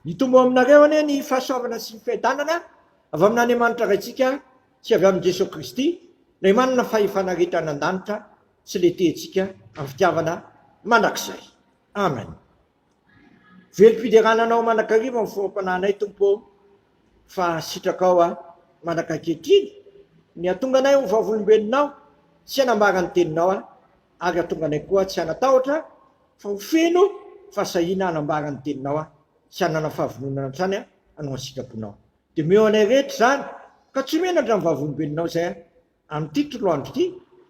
Hitombo ao aminareo anie ny fahasoavana sy ny fiadanana avy amin'Andriamanitra Raintsika sy avy amin'i Jesoa Kristy, Ilay manana fahefana rehetra any an-danitra sy ilay tia antsika amin'ny fitiavana mandrakizay. Amen. Velom-piderana Anao mandrakariva amin'ny foham-panahinay, Tompo ô, fa sitrakao aho mandraka ankehitriny ny hahatonga anay ho vavolombelonao sy hanambara ny Teninao aho, ary hahatonga anay koa tsy hanatahotra fa ho feno fahasahiana hanambara ny teninao aho sy hanana fahavononana hatrany aho hanao ny sitraponao. Dia omeo anay rehetra izany, ka tsy menatra ny vavolombelonao izay aho, amin'ity toloandro ity,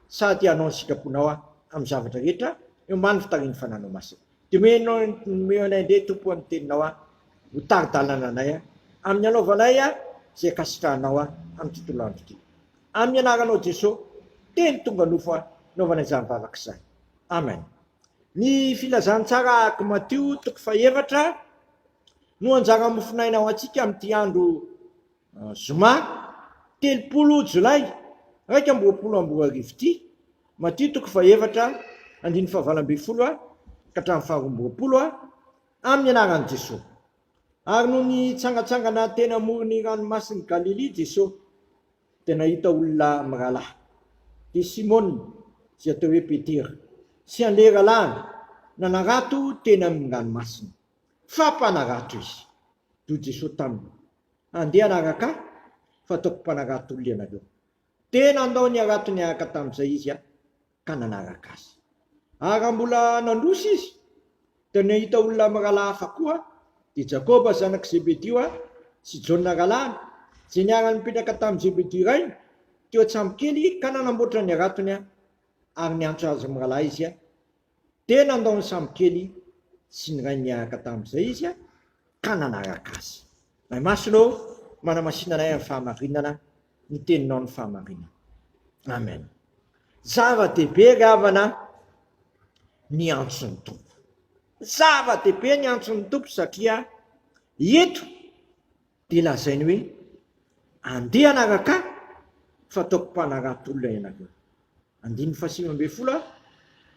sady hanao ny sitraponao aho amin'ny zavatra rehetra eo ambany fitarihan'ny Fananao Masina. Dia omeo anay indray, Tompo, ny teninao aho, ho tari-dalana anay aho, amin'ny hanaovanay aho izay ankasitrahanao aho amin'ity toloandro ity. Amin'ny Anaranao Jesoa, teny tonga nofo aho, naovana izany vavaka izany. Amen. Ny filazantsara ark Matio toko fahefatra no anjara mofonaina ho antsika amin'ity andro eh, zoma telopolo jolay iraika amby roapolo amby roa arivo ity. Matio toko fahefatra andiny fahavalo ambin'ny folo a ka hatramin'ny faharoa amby roapolo a amin'ny anaran'i Jesoa. Ary no nitsangatsangana teny amoron'ny ranomasin'i Galilia Jesoa. dia nahita olona mirahalahy, dia Simona, izay atao hoe Petera, sy an'ilay rahalahiny nanarato teny amin'ny ranomasina, fa mpanarato izy. Dia hoy Jesosy taminy, Andeha hanaraka Ahy, fataoko mpanarato olona ianareo. Dia nandao ny haratony araka tamin'izay izy. ka nanaraka azy. Ary raha mbola nandroso izy, dia nahita olona mirahalahy hafa koa, dia Jakoba zanak'i Zebedio ary sy Jaona rahalahiny, izay niara-nipetraka tamin'i Zebedio rainy, teo an-tsambokely, ka nanamboatra ny haratony ary niantso azy mirahalahy izy. Dia nandao ny sambokely sy ny rainy niaraka tamin'izay izy, ka nanaraka azy. Ray Masina ô, manamasina anay amin'ny fahamarinana, ny teninao ny fahamarinana. Amen. Zava-dehibe ry havana ny antson'ny tompo. Zava-dehibe ny antson'ny tompo satria eto dia lazainy hoe andeha anaraka fa ataoko mpanarato-olona ianareo. Andininy fahasivy ambin'ny folo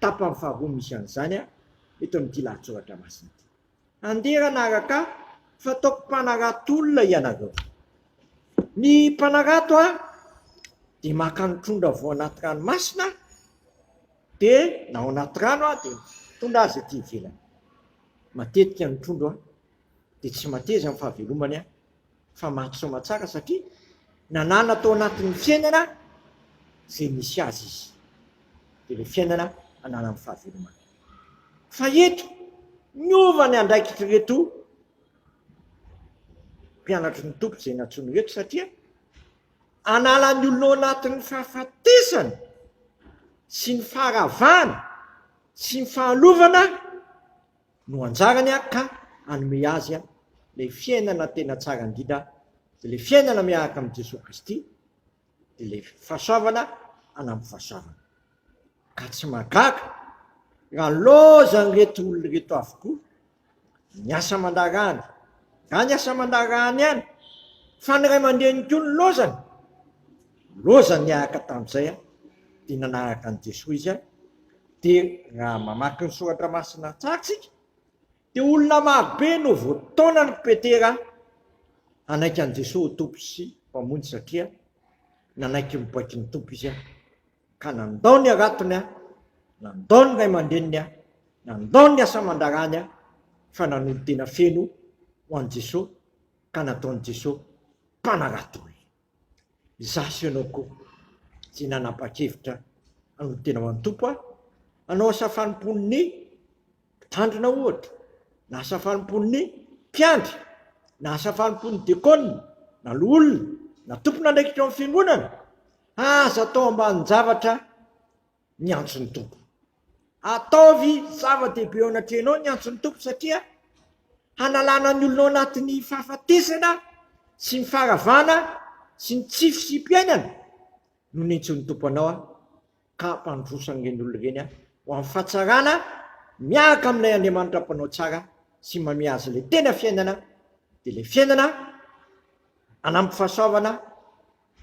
tapany faharoa misy an'izany eto amin'ity lahatsoratra masina ity. Andeha ranaraka ah, fataoko mpanarato olona ianareo. Ny mpanarato ah, dia maka ny trondra vao anaty ranomasina ah, dia na ao anaty rano ah, dia mitondra azy aty ivelany. Matetika ny trondro ah, dia tsy mateza ny fahavelomany ah, fa maty soa tsara satria nanana tao anatin'ny fiainana izay nisy azy izy, dia ilay fiainana ananan'ny fahavelomana. Fa eto, niova ny andraikitr'ireto mpianatry ny Tompo izay nantsoiny ireto, satria hanala ny olona ao anatin'ny fahafatesana sy ny faharavana sy ny fahalovana, no anjarany ka hanome azy ilay fiainana tena tsara indrindra, dia ilay fiainana miaraka amin'i Jesoa Kristy, dia ilay fahasoavana hanamby fahasoavana. Ka tsy mahagaga raha nilaozan'ireto olona ireto avokoa ny asa aman-daharahany, na ny asa aman-daharahany ihany, fa ny ray aman-dreniny koa nilaozany. Loza niaraka tamin'izay dia nanaraka an'i Jesoa izy, dia raha mamaky ny soratra masina tsara isika dia olona marobe no voataonan'i Petera hanaiky an'i Jesoa ho Tompo sy Mpamonjy satria nanaiky ny baiko ny Tompo izy ka nandao ny haratony, nandao ny ray aman-dreniny, nandao ny asa aman-draharaany fa nanolo-tena feno ho an'i Jesoa ka nataon'i Jesoa mpanarato olona. Izaho sy ianao koa tsy nanapa-kevitra hanolo tena ho an'ny Tompo aho, hanao asa fanompoan'ny mpitandrina ohatra, na asa fanompoan'ny mpiandry, na asa fanompoan'ny dekona, na loholona, na tompon'andraikitra ao amin'ny fiangonana, aza atao ambanin-javatra miantso ny Tompo. Ataovy zava-dehibe eo anatrehanao ny miantso ny Tompo satria hanalana ny olonao anatin'ny fahafatesana sy ny faharavana sy ny tsy fisiam-piainana no nentsoin'ny Tompo anao aho ka hampandroso an'ireny olona ireny aho ho amin'ny fahatsarana miaraka amin'ilay Andriamanitra mpanao tsara sy manome azy ilay tena fiainana dia ilay fiainana anampy fahasoavana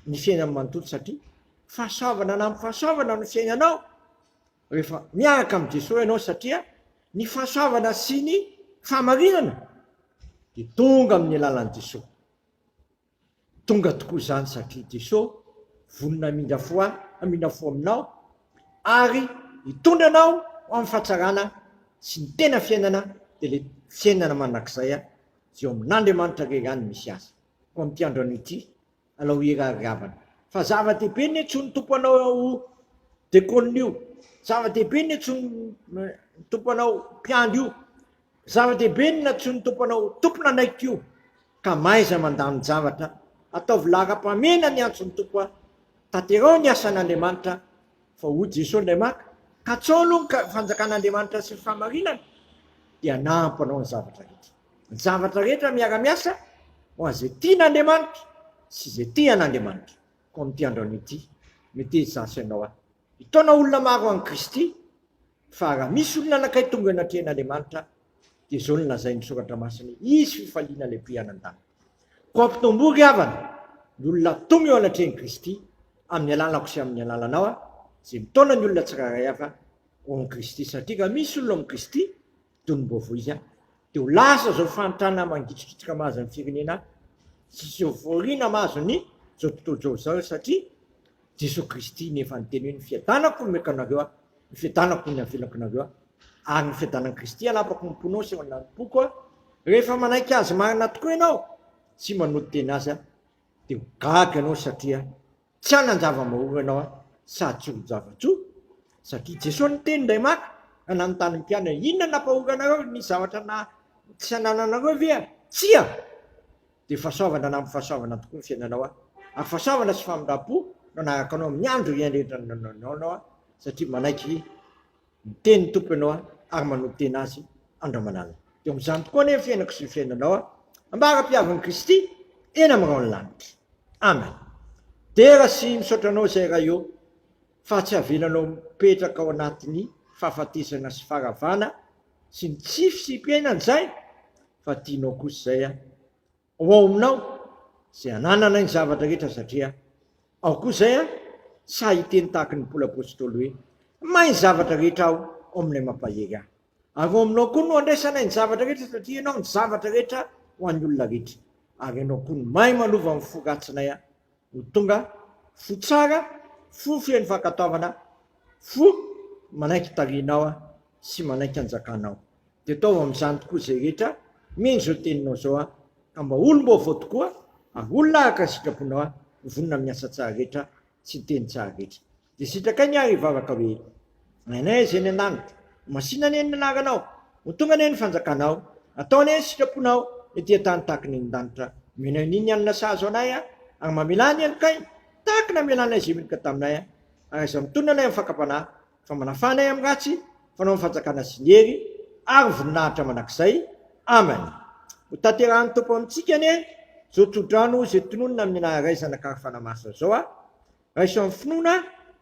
ny fiainany manontolo satria fahasoavana na amin'ny fahasoavana no fiainanao rehefa miaraka amin'i Jesoa ianao satria ny fahasoavana sy ny fahamarinana dia tonga amin'ny alalan'i Jesoa. Tonga tokoa izany satria Jesoa vonona hamindra fo ahy, hamindra fo aminao ary hitondra anao ho amin'ny fahatsarana sy ny tena fiainana dia ilay fiainana mandrakizay izay ao amin'Andriamanitra irery ihany no misy azy. Koa amin'ity andro anio ity alao hira ry havana fa zava dehibe ne tsy ny tompo anao dekona io zava dehibe ne tsy ny tompo anao mpiandry io zava dehibe na tsy ny tompo anao tompona anaiky io ka maiza mandany javatra ataovy laharam-pamena ny antso ny tompo a taterao ny asan'andriamanitra fa ho jesosy ndray maka katsao aloha ny fanjakan'andriamanitra sy ny famarinana dia nahampanao ny zavatra rehetra Ny zavatra rehetra miara-miasa ho an'izay tian'Andriamanitra sy izay tia an'Andriamanitra. Koa amin'ity andron'ny ity, mety hisy ianao aho. Hitaona olona maro an'i Kristy, fa raha misy olona anankiray tonga eo anatrehan'Andriamanitra, dia izao no lazain'ny Soratra Masina, Hisy fifaliana lehibe any an-danitra. Koa ampitombo ry havana ny olona tonga eo anatrehan'i Kristy, amin'ny alalako sy amin'ny alalanao aho, izay mitaona ny olona tsirairay avy ho amin'i Kristy. Satria raha misy olona ao amin'i Kristy, toy ny mbovo izy an! Dia ho lasa izao fahantrana mangitrikitrika mahazo ny firenena an! Tsy hisy fivoriana mahazo ny izao tontolo izao izao satria Jesoa Kristy no efa niteny hoe ny fiadanako omeko anareo an! Ny fiadanako no avelako anareo an! Ary ny fiadanan'i Kristy hanapako ny mponao sy hanampoko an! Rehefa manaiky Azy marina tokoa ianao sy manolo-tena Azy an! Dia ho gaga ianao satria Tsy hanan-java-maoro ianao aho sady tsy ho zava-tsoa, satria Jesoa niteny indray maka ka nanontany ny mpianany, Inona no nampahoranareo? Nisy zavatra na tsy hanananareo ve aho? Tsia! Dia fahasoavana na ampy-fahasoavana tokoa ny fiainanao aho, ary fahasoavana sy famindram-po no hanaraka anao amin'ny andro iaindraindrananao aho, satria manaiky Miteny ny Tompo ianao ary manotena Azy andromanalina. Dia eo amin'izany tokoa anie ny fiainako sy ny fiainanao ambara-piavin'i Kristy eny amin'ny rahon'ny lanitra. Amen. Dera sy misaotra anao izay Ray ô fa tsy avelanao mipetraka ao anatin'ny fahafatesana sy faharavana sy ny tsy fisiam-piainana izay fa tianao kosa izay an. Ho ao aminao izay anananay ny zavatra rehetra satria ao koa izay aho, sahy hiteny tahaka ny Paoly Apôstôly hoe, Mahay ny zavatra rehetra aho ao amin'ilay mampahery ahy. Ary ao aminao koa no andraisanay ny zavatra rehetra satria ianao ny zavatra rehetra ho an'ny olona rehetra, ary ianao koa no mahay manova ny fo ratsinay Ho tonga fo tsara, fo feno fankatoavana, fo manaiky hitarihinao sy manaiky hanjakanao. Dia ataovy amin'izany tokoa izay rehetra mino izao teninao izao, ka mba ho olom-baovao tokoa ary olona araka ny sitraponao, ho vonona amin'ny asa tsara rehetra sy ny teny tsara rehetra. Dia sitrakay ny ahy hivavaka hoe, Rainay izay any an-danitra, masìna anie ny anaranao, ho tonga anie ny fanjakanao, atao anie ny sitraponao ety an-tany tahaka ny any an-danitra, omena anie ny hanina sahaza anay aho, ary mamelà ny helokahy tahaka ny namelanay izay meloka taminay aho, ary aza mitonona anay amin'ny fakam-panahy, fa manafà anay amin'ny ratsy, fa anao ny fanjakana sy ny hery ary ny voninahitra mandrakizay. Amen. Ho tanterahin'ny Tompo amintsika anie izao tsodrano izay tononina amin'ny anaran'Ray, Zanaka ary Fanahy Masina izao aho, Raiso amin'ny finoana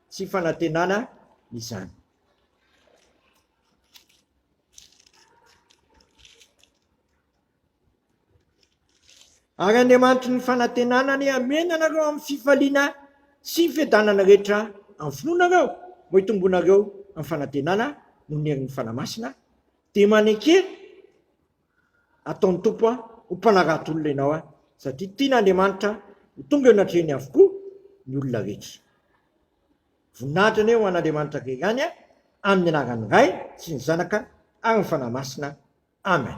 sy fanantenana izany. Ary Andriamanitry ny fanantenana anie hamena anareo amin'ny fifaliana sy fiadanana rehetra amin'ny finoanareo, mba hitombonareo amin'ny fanantenana noho ny herin'ny Fanahy Masina, dia maneke Ataon'ny Tompo ho mpanarato olona ianao satria tian'Andriamanitra ho tonga eo anatrehany avokoa ny olona rehetra. Voninahitra anie ho an'Andriamanitra Irery ihany amin'ny anaran'ny Ray sy ny Zanaka ary ny Fanahy Masina. Amen.